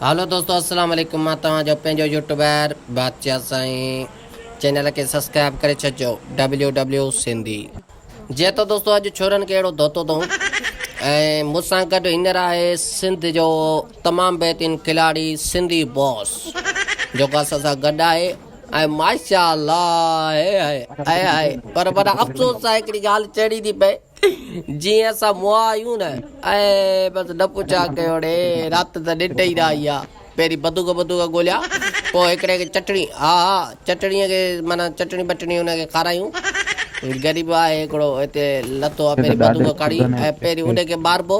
هلو دوستو السلام عليڪم مان توهان جو پنهنجو يوٽيوبر بادشاهه سائين چينل کي سبسڪرائب ڪري ڇڏجو ڊبليو ڊبليو سنڌي جي ته دوستو اڄ ڇورن کي اهڙو ڌوتو ٿون ۽ مون سان گڏ هينئر آهي سنڌ جو تمام بهترين کلاڙي سنڌي باس جيڪو اسان سان گڏ آهي ۽ ماشاء الله پر وڏا افسوس آهي هڪڙي ڳالهه چئڻي ٿي پئي جيئن اسان مئا آهيون نه. اي بس نه پڇ آ ڪيوڙي رات ته ننڊ ئي نه آئي آ. پهرين بندوق بندوق ڳوليا پوء هڪڙي کي چٽڻي ها ها چٽڻي کي معنيٰ چٽڻي بٽڻي ان کي کارايون. غريب آهي هڪڙو هتي لٿو آ پهرين بندوق کڻي ۽ پهرين ان کي ماربو.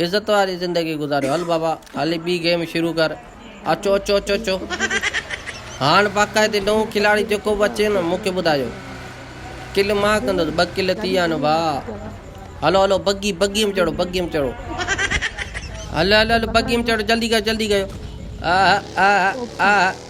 عزت واري زندگي گذاريو هل بابا هلي ٻي گيم شروع ڪر اچو اچو اچو اچو هاڻ باقاعدي نئون کلاڙي جيڪو به اچي نه مونکي ٻڌايو ڪل مان ڪندس ٻه ڪل ٿي ويا نه ڀا هلو هلو بگي بگي ۾ چڙو بگي ۾ چڙو هل هل هل بگي ۾ چڙو جلدي ڪيو جلدي ڪيو آ آ آ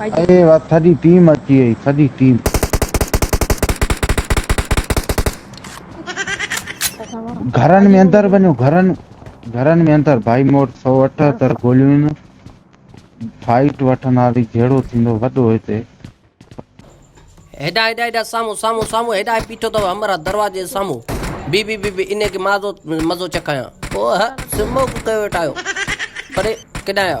اڙي واھ سڄي ٽيم اچي وئي سڄي ٽيم. گھرن ۾ اندر وڃو گھرن گھرن ۾ اندر ڀائي مون وٽ سؤ اٺھتر گوليون ان. فائٽ وٺنداسين جھڙو ٿيندو وڏو ھتي. ھيڏانھن ھيڏانھن ھيڏانھن سامھون سامھون سامھون ھيڏانھن بيٺو تھ ھمراھ دروازي جي سامھون بيھ بيھ بيھ بيھ انھيء کي مزو چکايان. اوھھ سمو ڪيو ويٺا آھيو. اڙي ڪيڏانھن آھيا.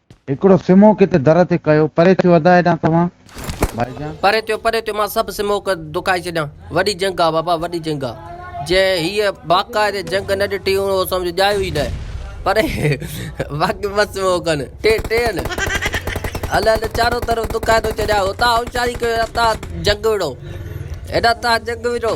هڪڙو سموڪ هتي در تي ڪيو. پري ٿيو ادا هيڏانهن توهان ڀائي جان. پري ٿيو پري ٿيو مان سڀ سموڪ دکائي ڇڏيان. وڏي جنگ آ بابا وڏي جنگ آ. جنهن هيء باقاعدي جنگ نه ڏٺي هئڻ اهو سمجهه ڄايو ئي ناهي. پري باقي ٻه سموڪ آهن. ٽي ٽي آهن. هل هل چارو طرف دکائي ٿو ڇڏيان. هتان هوشياري ڪيو هيڏانهن تان جنگ وڙهو. هيڏانهن تان جنگ وڙهو.